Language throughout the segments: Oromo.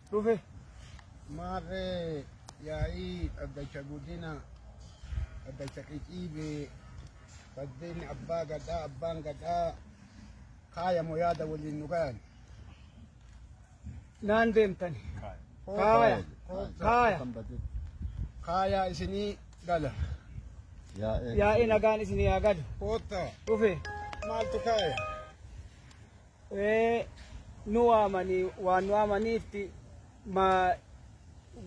Dhufe maarree yaa'ii dhaddacha guddina dhaddacha qiciibee baddeen abbaa gadaa abbaan gadaa kaayamo yaada waliin nu gayan. Naan deemtani. Kaaya. Kaaya. Kaayaa isinii gala. Yaa'ii nagaan isinii haa galu. Koottaa Dhufe maaltu kaaya? nu waamanii waan nu waamaniifti ma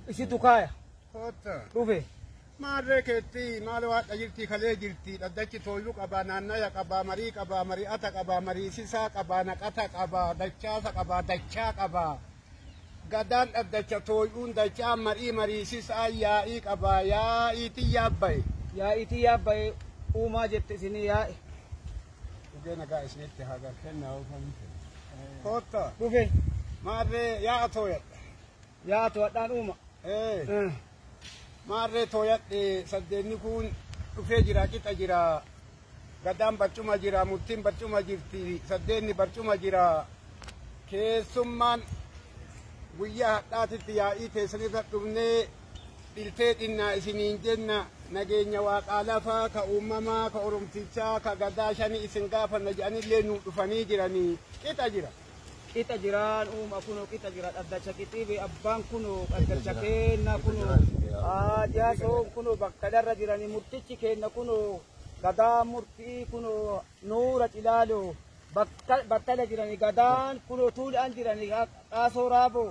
isitu kaaya Kootta. dhufe Maarree keetti maal waadha jirti kalee jirti dhaddachi tooyyuu qabaa naannaya qabaa marii qabaa mari'ata qabaa mariisisaa qabaa naqata qabaa dachaasa qabaa dachaa qabaa. Gadaan dhaddacha tooyyuun dachaa marii mariisisaa yaa'ii qabaa yaa'iitiin yaabba'e. yaa'iitii yaabbaye uumaa jette isinii yaa'e Dhugee nagaa isinitti haa galu. Kennaa oofan kenna. Kootta. Dhufe. Maarree yaa'a tooyadha. Yaa'a tooyadhaan uuma. Ee. Maarree tooyadhe saddeenni kun dhufee jira qixa jira. Gadaan barcuma jira murtiin barcuma jirti saddeenni barcuma jira. Keessummaan guyyaa hadhaatitti yaa'ii teessanirra dhufnee Bilteedhinnaa isiniin jenna, nageenya Waaqaa lafaa, ka uummamaa, ka Oromtichaa, ka Gadaa shanii isin gaafanna jedhanillee nuu dhufanii jiranii. Qixa jira. Qixa jira nu'uma kunoo qixa jira dhaddacha qixiibe abbaan kunoo dhaddacha keenna kunoo aa jaasoon kunoo bakkadarra jirani murtichi keenna kunoo gadaa murtii kunoo nuura cilaaloo battala jirani gadaan kunoo tuula'an jirani qaasoo raaboo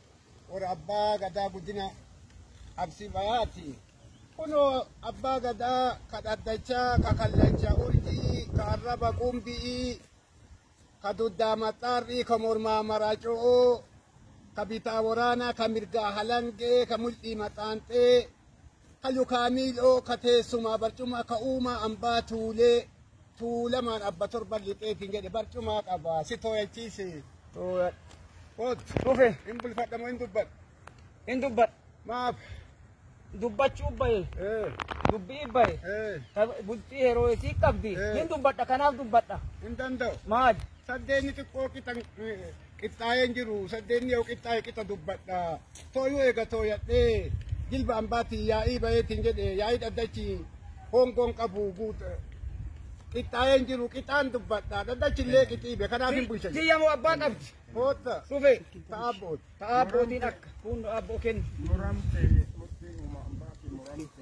warra abbaa gadaa guddina absi bayaati kunoo abbaa gadaa ka dhaddachaa ka kallacha urjii ka arraba qumbi'ii ka duddaa maxxaarrii ka mormaa maraaco'oo ka bitaa waraanaa ka mirgaa halangee ka mul'ii maxaanxee ka lukaa miil'oo, ka teessumaa barcumaa, ka uumaa ambaa tuulee, tuulamaan abba torban lixeetiin jedhe barcumaa qaba si tooyachiise. Tooya. Oot. Dhufe. Hin bulfadha moo hin dubbadha? Hin dubbadha. Maaf? Dubbachuu bahe. Ee. Dubbii bahe. Ee. Ta- Bultii yeroo isii qabdi. Eh. Hin dubbadha kanaaf dubbadha. Hin danda'u. Maali? Saddeenni xiqqoo qixan Qixxaayeen jiru saddeenni yoo qixxaaye qixa dubbadha. Tooyuu eega tooyadhee jilba ambaatiin yaa'ii bayeetiin jedhe yaa'ii dhaddachi hoongoon qabu guuta. Qixxaayeen jiru qixaan dubbadha. Dhaddachi illee qixiibe kanaaf hin bulcha. Tiyya moo abbaa qabdi? Kootta Dhufe. ta'a abbooti. Ta'a abbootiin akka. Kun abboo kennu. muramte murtiin uuma ambaatiin muramte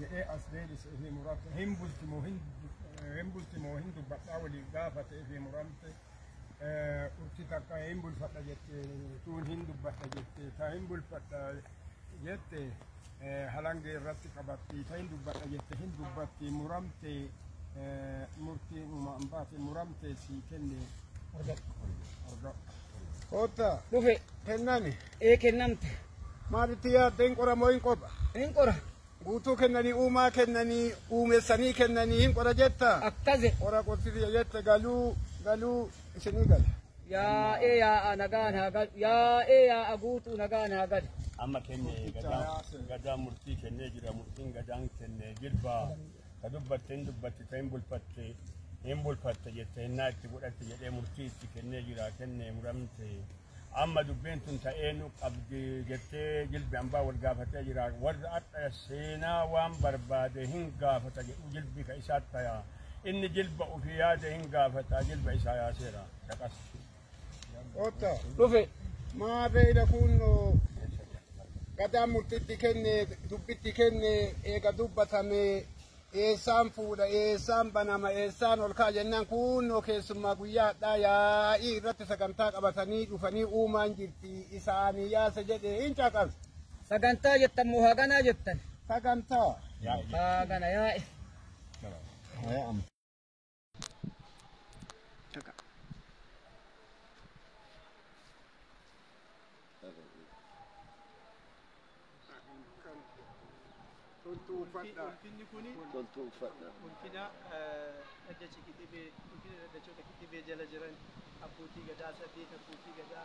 jedhee as deebise fi murate hin bulti moo hin hin bulti moo hin dubbadhaa walii gaafate fi muramte urti takka hin bulfadha jette tuun hin dubbadha jette ta hin bulfadha jette halangee irratti qabatti ta hin dubbadha jette hin dubbatti muramte murtii uumaan baate muramte sii kenne argadhu kotta dhufe kennani ee kennamte. Maal itti yaadda hin qora moo hin qopha? Hin qora. Guutuu kennanii uumaa kennanii uumessanii kennanii hin qora jetta? Akkasi. Qora qorsisiya jette galuu galuu isinii gala. Yaa'ee yaa'a nagaan haa galu. Yaa'ee yaa'a guutuu nagaan haa galu. amma kenne gadaan gadaan murtii kennee jira murtiin gadaan kenne jirba ka dubbatte hin dubbatte ta hin bulfatte hin bulfatte jette hennaa itti godhatte jedhee murtii itti kennee jira kenne muramte Amma dubbiin tun ta'ee nu qabdi jettee jilbi ambaa wal gaafatee jira. Warra adha seenaa waan barbaade hin gaafata jedhu jilbi ka isaa taya. Inni jilba ofii yaade hin gaafata jilba isaa yaaseera. Dhaqas. Otta. Dhufe. Maa beeyda kun gadaa murtitti kenne dubbitti kenne eega dubbatame Eessaan fuudha, eessaan banama, eessaan ol ka'a jennaan kuunnoo keessummaa guyyaa hadhaa yaa'ii irratti sagantaa qabatanii dhufanii uumaan jirti isaanii yaasa jedhee hin caqas. Sagantaa jettan moo haganaa jettan? Sagantaa. Hagana yaa'e. Taka. Toltuu uffadha. Ulfinni kuni Toltuu uffadha. ulfina eh, dhaddacha kitibee ulfina dhaddachoota kitibee jala jiran abbootii gadaa saddeet abbootii gadaa